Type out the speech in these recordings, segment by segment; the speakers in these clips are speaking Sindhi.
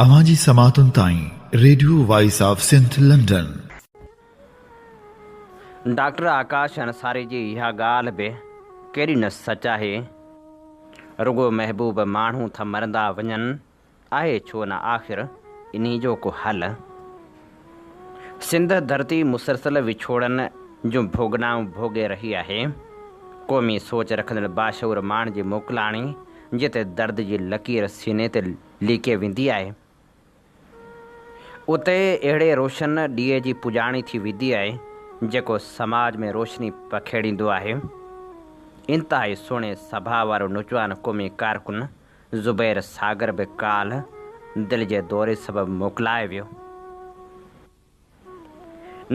اوهان جي سماعتن تائين radio voice of Sindh London. Doctor Akash Ansari جي اها ڳالهه به ڪيڏي نه سچ آهي، رڳو محبوب ماڻهو تھ مرندا وڃن، آهي ڇو نه آخر انھي جو ڪو حل؟ سنڌ ڌرتي مسلسل وڇوڙن جون ڀوڳنائون ڀوڳي رهي آهي. قومي سوچ رکندڙ باشعور ماڻهن جي موڪلاڻي جتي درد جي لڪير سيني تي ليڪي ويندي آهي اتي اهڙي روشن ڏيئي جي پڄاڻي ٿي ويندي آهي جيڪو سماج ۾ روشني پکيڙيندو آهي. انتهائي سهڻي سڀاء وارو نوجوان قومي ڪارڪن زبير ساگر به ڪالهه دل جي دوري سبب موڪلائي ويو.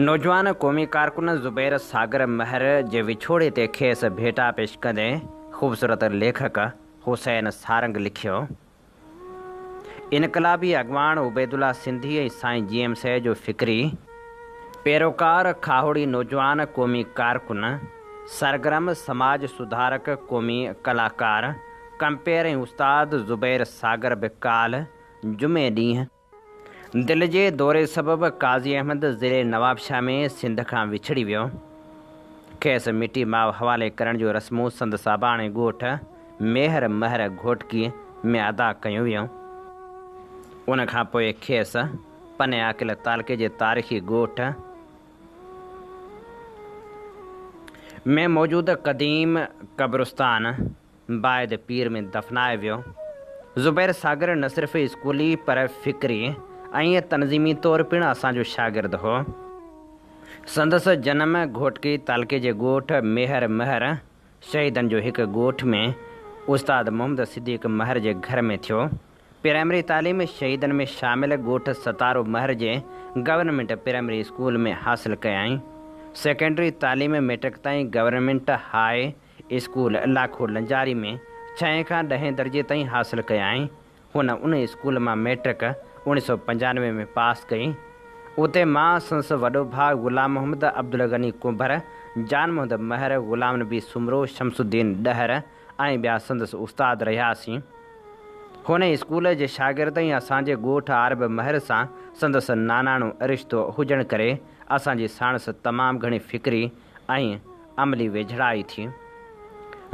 نوجوان قومي ڪارڪن زبير ساگر مهر جي وڇوڙي تي کيس ڀيٽا پيش ڪندي خوبصورت ليکڪ حسين سارنگ لکيو، انقلابي اڳواڻ عبيدالله سنڌي ۽ سائين جي ايم سي جو فڪري، پيروڪار، کاهوڙي نوجوان قومي ڪارڪن، سرگرم سماج سڌارڪ، قومي ڪلاڪار، ڪمپير ۽ استاد زبير ساگر به ڪالهه جمعي ڏينهن دل جي دوري سبب قاضي احمد ضلعي نوابشاهه ۾ سنڌ کان وڇڙي ويو. کيس مٽي ماء حوالي ڪرڻ جون رسمون سندس اباڻي ڳوٺ ميهر مهر گهوٽڪي ۾ ادا ڪيون ويون. ان کان پوء کيس پني عاقل تعلقي جي تاريخي ڳوٺ ۾ موجود قديم قبرستان بعد پير ۾ دفنائي ويو. زبير ساگر نه صرف اسڪولي پر فڪري ۽ تنظيمي طور پڻ اسان جو شاگرد هو. سندس جنم گهوٽڪي تعلقي جي ڳوٺ ميهر مهر شهيدن جو هڪ ڳوٺ ۾ استاد محمد صديق مهر جي گهر ۾ ٿيو. پرائمري تعليم شهيدن ۾ شامل ڳوٺ ستارو مهر جي گورنمينٽ پرائمري اسڪول ۾ حاصل ڪيائين. سيڪنڊري تعليم ميٽرڪ تائين government high school Lakho Lanjari ۾ ڇهين کان ڏهين درجي تائين حاصل ڪيائين. هن ان اسڪول مان مئٽرڪ اوڻيهه سؤ پنجانوي ۾ پاس ڪئي. اتي مان سندس وڏو ڀاء غلام محمد، عبدالغني ڪنڀر، جان محمد مهر، غلام نبي سومرو، شمس الدين ڏهر ۽ ٻيا سندس استاد رهياسين. هن اسڪول جي شاگرد ۽ اسان جي ڳوٺ عارب مهر سان سندس ناناڻو رشتو هجڻ ڪري اسان جي ساڻس تمام گهڻي فڪري ۽ عملي ويجهڙائي ٿي.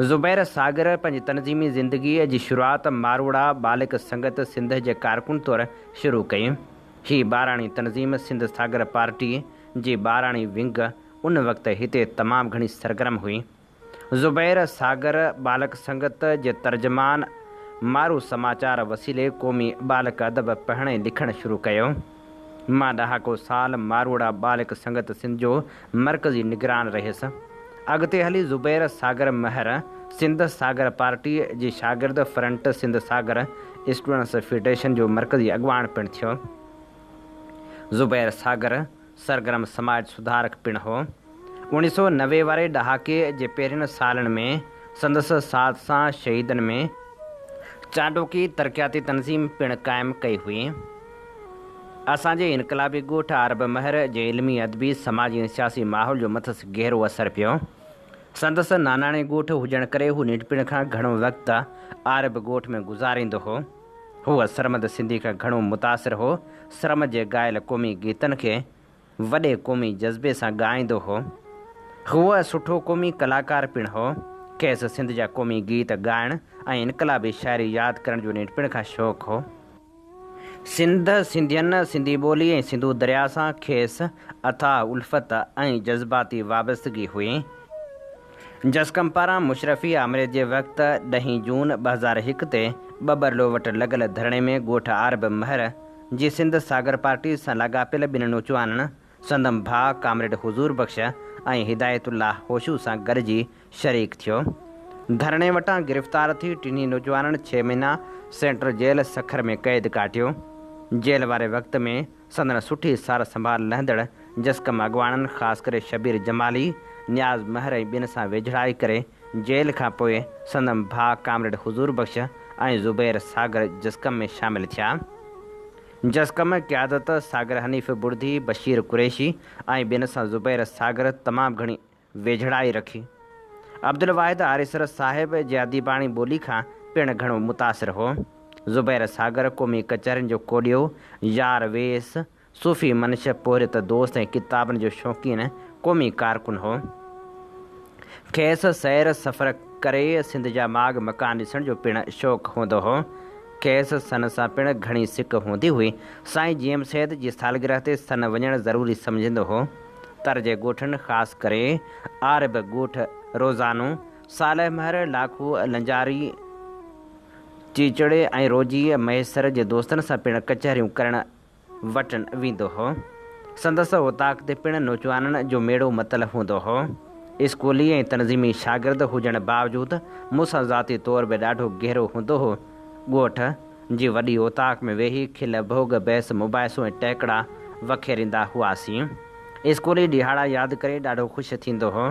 زبير ساگر پنهنجي تنظيمي زندگيء جي شروعات ماروئڙا ٻالڪ سنگت سنڌ جي ڪارڪن طور شروع ڪئي. هي ٻاراڻي تنظيم سنڌ ساگر پارٽيء جي ٻاراڻي ونگ ان وقت هتي تمام گهڻي سرگرم هئي. زبير ساگر ٻالڪ سنگت جي ترجمان مارو سماچار وسيلي قومي ٻالڪ ادب پڙهڻ ۽ لکڻ شروع ڪيو. مان ڏهاڪو سال ماروئڙا ٻالڪ سنگت سنڌ جو مرڪزي نگران رهيس. اڳتي هلي زبير ساگر مهر سنڌ ساگر پارٽيء جي شاگرد front Sindh Sagar students federation جو مرڪزي اڳواڻ پڻ ٿيو. زبير ساگر سرگرم سماج سڌارڪ پڻ هو. اوڻيھ سؤ نوي واري ڏهاڪي جي پهرين سالن ۾ سندس ساٿ سان شهيدن ۾ چانڊوڪي ترقياتي تنظيم پڻ قائم ڪئي هئي. اسان جي انقلابي ڳوٺ عارب مهر جي علمي، ادبي، سماجي ۽ سياسي ماحول جو مٿس گهرو اثر پيو. سندس ناناڻي ڳوٺ هجڻ ڪري هو ننڍپڻ کان گهڻو وقت عارب ڳوٺ ۾ گذاريندو هو. هو سرمد سنڌي کان گهڻو متاثر هو. سرمد جي ڳايل قومي گيتن کي وڏي قومي جذبي سان ڳائيندو هو. هوء سٺو قومي ڪلاڪار پڻ هو. کيس سنڌ جا قومي گيت ڳائڻ ۽ انقلابي شاعري ياد ڪرڻ جو ننڍپڻ کان شوق هو. سنڌ، سنڌين، سنڌي ٻولي ۽ سنڌو درياء سان کيس اٿاهه الفت ۽ جذباتي وابستگي هئي. جسقم پاران مشرفي آمريت جي وقت ڏهين جون ٻه هزار هڪ تي ٻٻرلو وٽ لڳل ڌرڻي ۾ ڳوٺ عارب مهر، جي سنڌ ساگر پارٽيز سان لاڳاپيل ٻن نوچوانن سندم ڀاء ڪامريڊ حضور بخش ۽ هدايت الله هوشو سان گڏجي شريڪ ٿيو. ڌرڻي وٽان گرفتار ٿي ٽنهي نوجوانن ڇهه مهينا سينٽرل جيل سکر ۾ قيد ڪاٽيو. جيل واري وقت ۾ سندن سٺي سار سنڀال لهندڙ جسقم اڳواڻن خاص ڪري شبير جمالي، نياز مهر ۽ ٻين سان ويجهڙائي ڪري جيل کان پوء سندن ڀاء ڪامريڊ حضور بخش ۽ زبير ساگر جسقم ۾ شامل ٿيا. جسقم قيادت ساگر حنيف بڙڌي، بشير قريشي ۽ ٻين سان زبير ساگر تمام گهڻي ويجهڙائي رکي. عبدالواحد آريسر صاحب جي اديباڻي ٻولي کان پڻ گهڻو متاثر هو. زبير ساگر قومي ڪچهرين جو ڪوڏيو، يار ويس، صوفي منشيء پورهيت دوست ۽ ڪتابن جو شوقين قومي ڪارڪن هو. کيس سير سفر ڪري سنڌ جا ماڳ مڪان ڏسڻ جو پڻ شوق هوندو هو. کيس سن سان پڻ گهڻي سڪ هوندي هئي. سائين جيئم سيد جي سالگرهه تي سن وڃڻ ضروري سمجهندو هو. تر جي ڳوٺن خاص ڪري عارب ڳوٺ روزانو، صالح مهر، لاکو، لنجاري، چيچڙي ۽ روجي مهيسر جي دوستن سان پڻ ڪچهريون ڪرڻ وٽن ويندو هو. سندس اوطاق تي پڻ نوجوانن جو ميڙو متل هوندو هو. اسڪولي ۽ تنظيمي شاگرد هجڻ باوجود مون سان ذاتي طور به ڏاڍو گهرو هوندو هو. ڳوٺ جي وڏي اوطاق ۾ ويهي کل ڀوڳ بحث مباحثو ۽ ٽهڪڙا وکيريندا هئاسين. اسڪولي ڏهاڙا ياد ڪري ڏاڍو خوش ٿيندو هو.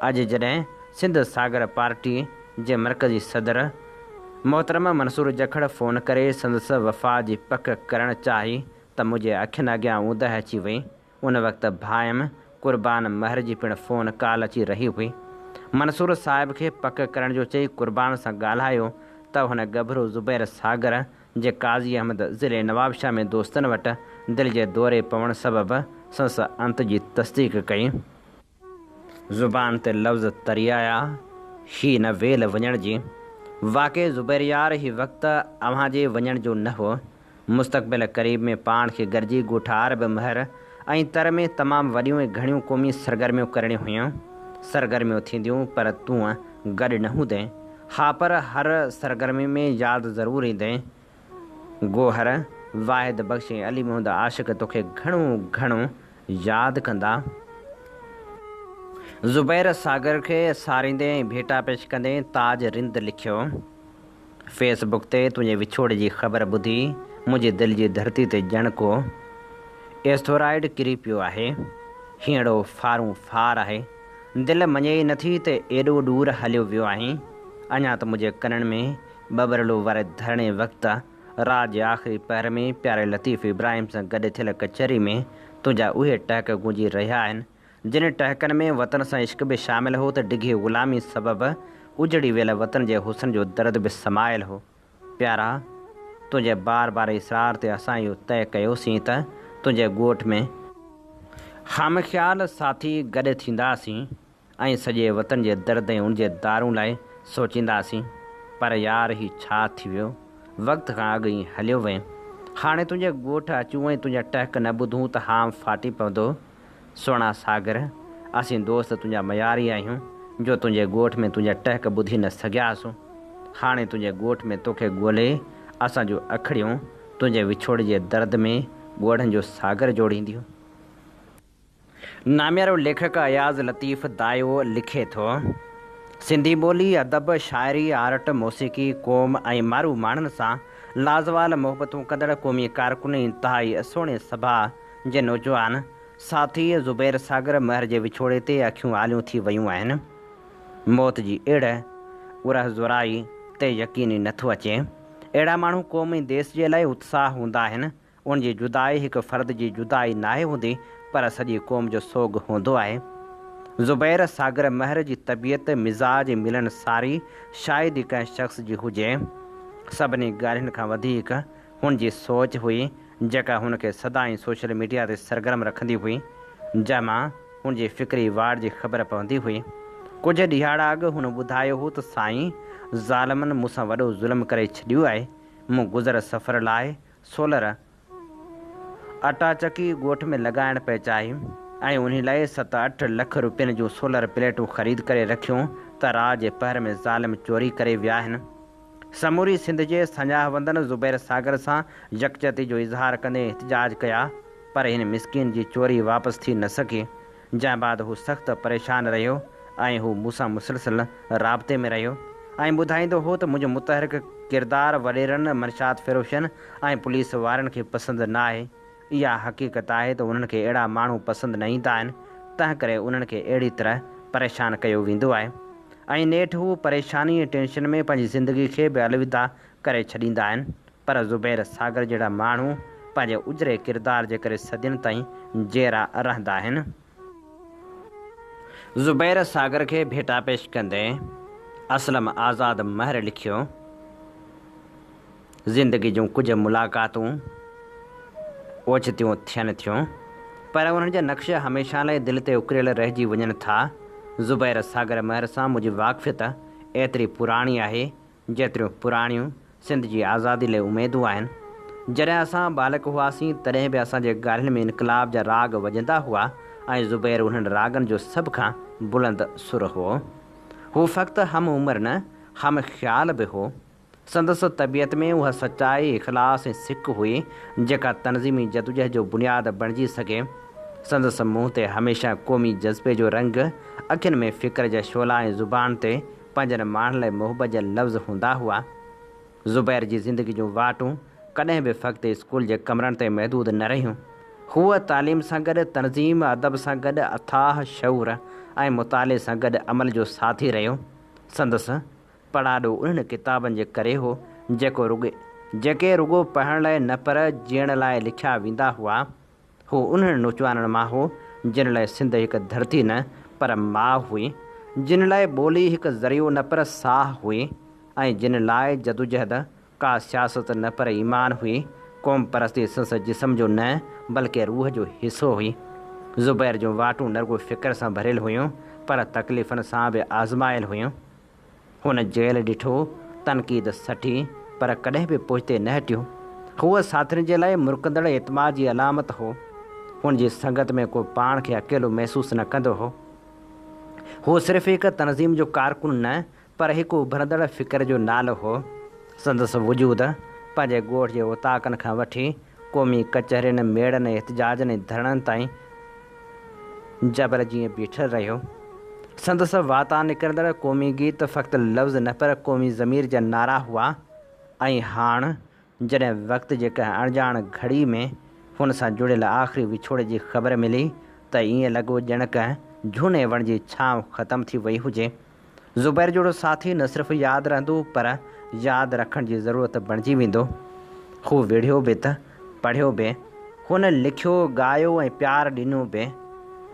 اڄ جڏهن سنڌ ساگر پارٽي جي مرڪزي صدر، محترم منصور جکڙ فون ڪري سندس وفا جي پڪ ڪرڻ چاهي ته منهنجي اکين اڳيان اوندهه اچي وئي. ان وقت ڀائم قربان مهر جي پڻ فون ڪال اچي رهي هئي. منصور صاحب کي پڪ ڪرڻ جو چئي قربان سان ڳالهايو ته هن ڳڀرو زبير ساگر جي قاضي احمد ضلعي نوابشاهه ۾ دوستن وٽ دل جي دوري پوڻ سبب سندس انت جي تصديق ڪئي. زبان تي لفظ تري آيا، هي نه ويل وڃڻ جي. واقعي زبير يار هي وقت اوهان جي وڃڻ جو نه هو. مستقبل قريب ۾ پاڻ کي گڏجي ڳوٺار به مهر ۽ تر ۾ تمام وڏيون ۽ گهڻيون قومي سرگرميون ڪرڻيون هيون. سرگرميون ٿينديون پر تون گڏ نه هوندين. ها پر هر سرگرمي ۾ ياد ضرور ايندين. گوهر، واحد بخش ۽ علي محمد عاشق توکي گهڻو گهڻو ياد ڪندا. زبير ساگر کي ساريندي ۽ ڀيٽا پيش ڪندي تاج رند لکيو، فيس بڪ تي تنهنجي وڇوڙي جي خبر ٻڌي منهنجي دل جي ڌرتي تي ڄڻ ڪو ايسٿورائيڊ ڪري پيو آهي. هينئڙو ڦارون ڦار آهي. دل مڃي ئي نٿي ته ايڏو ڏور هليو ويو آهين. اڃا ته منهنجي ڪنن ۾ ٻٻرڙو واري ڌرڻي وقت رات جي آخري پهر ۾ پياري لطيف ابراهيم سان گڏ ٿيل ڪچهري ۾ تنهنجا اهي ٽهڪ گونجي رهيا آهن، جن ٽهڪن ۾ وطن سان عشق به شامل هو ته ڊگهي غلامي سبب اجڙي ويل وطن جي حسن جو درد به سمايل هو. پيارا! تنهنجي بار بار اصرار تي اسان اهو طئي ڪيوسين ته تنهنجي ڳوٺ ۾. خامخيال ساٿي گڏ ٿينداسين ۽ سڄي وطن جي درد ۽ ان جي دارون لاء سوچينداسين پر يار هي ڇا ٿي ويو وقت کان اڳ ائين هليو وئين هاڻي تنهنجي ڳوٺ اچون ۽ تنهنجا ٽهڪ نه ٻڌون ته هام ڦاٽي پوندو سهڻا ساگر اسين دوست تنهنجا مياري آهيون جو تنهنجي ڳوٺ ۾ تنهنجا ٽهڪ ٻڌي نه سگهياسون هاڻي تنهنجي ڳوٺ ۾ توکي ڳولي اسان جون اکڙيون تنهنجي وڇوڙي جي درد ۾ ڳوڙهن جو ساگر جوڙينديون. ناميارو ليکڪ اياز لطيف دايو لکي ٿو، سنڌي ٻولي، ادب، شاعري، آرٽ، موسيقي، قوم ۽ مارو ماڻهن سان لازوال محبتون ڪندڙ قومي ڪارڪن ۽ انتهائي سهڻي سڀاء جي نوجوان ساٿي زبير ساگر مهر جي وڇوڙي تي اکيون آليون ٿي ويون آهن. موت جي اڙ، ارهه زورائي، تي يقين ئي نه ٿو اچي. اهڙا ماڻهو قوم ۽ ديس جي لاء اتساهه هوندا آهن. ان جي جدائي هڪ فرد جي جدائي ناهي هوندي پر سڄي قوم جو سوڳ هوندو آهي. زبير ساگر مهر جي طبيعت، مزاج، ملن ساري شايد ئي ڪنهن شخص جي هجي. سڀني ڳالهين کان وڌيڪ هن جي سوچ هئي جيڪا هن کي سدائين سوشل ميڊيا تي سرگرم رکندي هئي جنهن مان هن جي فڪري واڙ جي خبر پوندي هئي. ڪجهه ڏهاڙا اڳ هن ٻڌايو هو ته سائين ظالمن مون سان وڏو ظلم ڪري ڇڏيو آهي مون گذر سفر لاء سولر اٽا چڪي ڳوٺ ۾ لڳائڻ پئي چاهي ۽ انهي لاء ست اٺ لک روپين جون سولر پليٽون خريد ڪري رکيون ته رات جي پهر ۾ ظالم چوري ڪري ويا آهن. سموري سنڌ جي سڃاهوندن زبير ساگر سان يڪجهتي جو اظهار ڪندي احتجاج ڪيا پر هن مسڪين جي چوري واپس ٿي نه سگهي جنهن بعد هو سخت پريشان رهيو ۽ هو مون سان مسلسل رابطي ۾ رهيو ۽ ٻڌائيندو هو ته منهنجو متحرڪ ڪردار وڏيرن، منشيات فروشن ۽ پوليس وارن کي پسند نه آهي. اها حقيقت آهي ته انهن کي اهڙا ماڻهو پسند نه ايندا آهن، تنهنڪري انهن کي اهڙي طرح پريشان ڪيو ويندو آهي ۽ نيٺ هو پريشاني ۽ ٽينشن ۾ پنهنجي زندگي کي به الوداع ڪري ڇڏيندا آهن. پر زبير ساگر جهڙا ماڻهو پنهنجي اجري ڪردار جي ڪري صدين تائين جيئرا رهندا آهن. زبير ساگر کي ڀيٽا پيش ڪندي اسلم آزاد مهر لکيو، زندگي جون ڪجهه ملاقاتون اوچتيون ٿين ٿيون، پر انهن جا نقش هميشه لاء دل تي اڪريل رهجي وڃن ٿا. زبير ساگر مهر سان منهنجي واقفيت ايتري پراڻي آهي، جيتريون پراڻيون سنڌ جي آزادي لئه اميدون آهن. جڏهن اسان ٻالڪ هئاسين تڏهن به اسان جي ڳالهين ۾ انقلاب جا راڳ وڄندا هئا ۽ زبير انهن راڳن جو سڀ کان بلند سر هئو. هو فقط هم عمر نه هم خيال به هو. سندس طبيعت ۾ اها سچائي، اخلاص ۽ سڪ هئي جيڪا تنظيمي جدوجهد جو بنياد بڻجي سگهي. سندس منهن تي هميشه قومي جذبي جو رنگ، اکين ۾ فڪر جا شعلا ۽ زبان تي پنهنجن ماڻهن لاء محبت جا لفظ هوندا هئا. زبير جي زندگي جون واٽون ڪڏهن به فقط اسڪول جي ڪمرن تائين محدود نه رهيون. هوء تعليم سان گڏ تنظيم، ادب سان گڏ اٿاهه شعور ۽ مطالعي سان گڏ عمل جو ساٿي رهيو. سندس پڙاڏو انهن ڪتابن جي ڪري هو، جيڪو رڳو جيڪي رڳو پڙهڻ لاء نه پر جيئڻ لاء لکيا ويندا هئا. هو انهن نوجوانن مان هو، جن لاء سنڌ هڪ ڌرتي نه پر ماء هئي، جن لاء ٻولي هڪ ذريعو نه پر ساهه هئي ۽ جن لاء جدوجهد ڪا سياست نه پر ايمان هئي، قومپرستي سنس جسم جو نه بلڪه روح جو حصو هئي. زبير جون واٽون نه رڳو فڪر سان ڀريل هيون پر تڪليفن سان به آزمايل هيون. هن جيل ڏٺو، تنقيد سٺي، پر ڪڏهن به پوئتي نه هٽيو. هوء ساٿين جي لاء مرڪندڙ اعتماد جي علامت هو. هن جي سنگت ۾ ڪو پاڻ کي اڪيلو محسوس نه ڪندو هو. هو صرف هڪ تنظيم جو ڪارڪن نه، پر هڪ اڀرندڙ فڪر جو نالو هو. سندس وجود، پنهنجي ڳوٺ جي اوطاقن کان وٺي، قومي ڪچهرين، ميڙن ۽ احتجاجن ۽ ڌرڻن تائين جبل جيئن بيٺل رهيو. سندس واتان نڪرندڙ قومي گيت فقط لفظ نه پر قومي ضمير جا نعرا هئا ۽ هاڻ جڏهن وقت جي ڪنهن اڻڄاڻ گهڙي ۾ هن سان جڙيل آخري وڇوڙي جي خبر ملي ته ائين لڳو ڄڻ ڪنهن جهوني وڻ جي ڇانو ختم ٿي وئي هجي. زبير جهڙو ساٿي نه صرف ياد رهندو پر ياد رکڻ جي ضرورت بڻجي ويندو. هو وڙهيو به ته پڙهيو به، هن لکيو، ڳايو ۽ پيار ڏنو به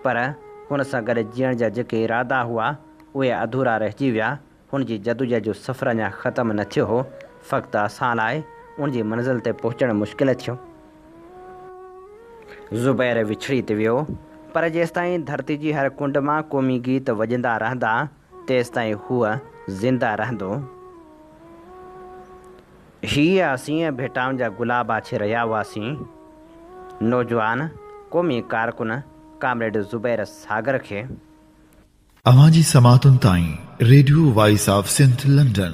پر هن سان گڏ جيئڻ جا جيڪي ارادا هئا اهي اڌورا رهجي ويا، هن جي جدوجهد جو سفر اڃا ختم نه ٿيو هو، فقط اسان لاء ان جي منزل تي پهچڻ مشڪل ٿيو. زبير وڇڙي تي ويو، پر جيستائين ڌرتي جي هر ڪنڊ مان قومي گيت وڄندا رهندا، تيستائين هوء زنده رهندو. هيء اسين ڀيٽائن جا گلاب آڇي رهيا هئاسين. نوجوان قومي ڪارڪن ڪامريڊ زبير ساگر کي. اوهان جي سماعتن تائين radio voice of Sindh London.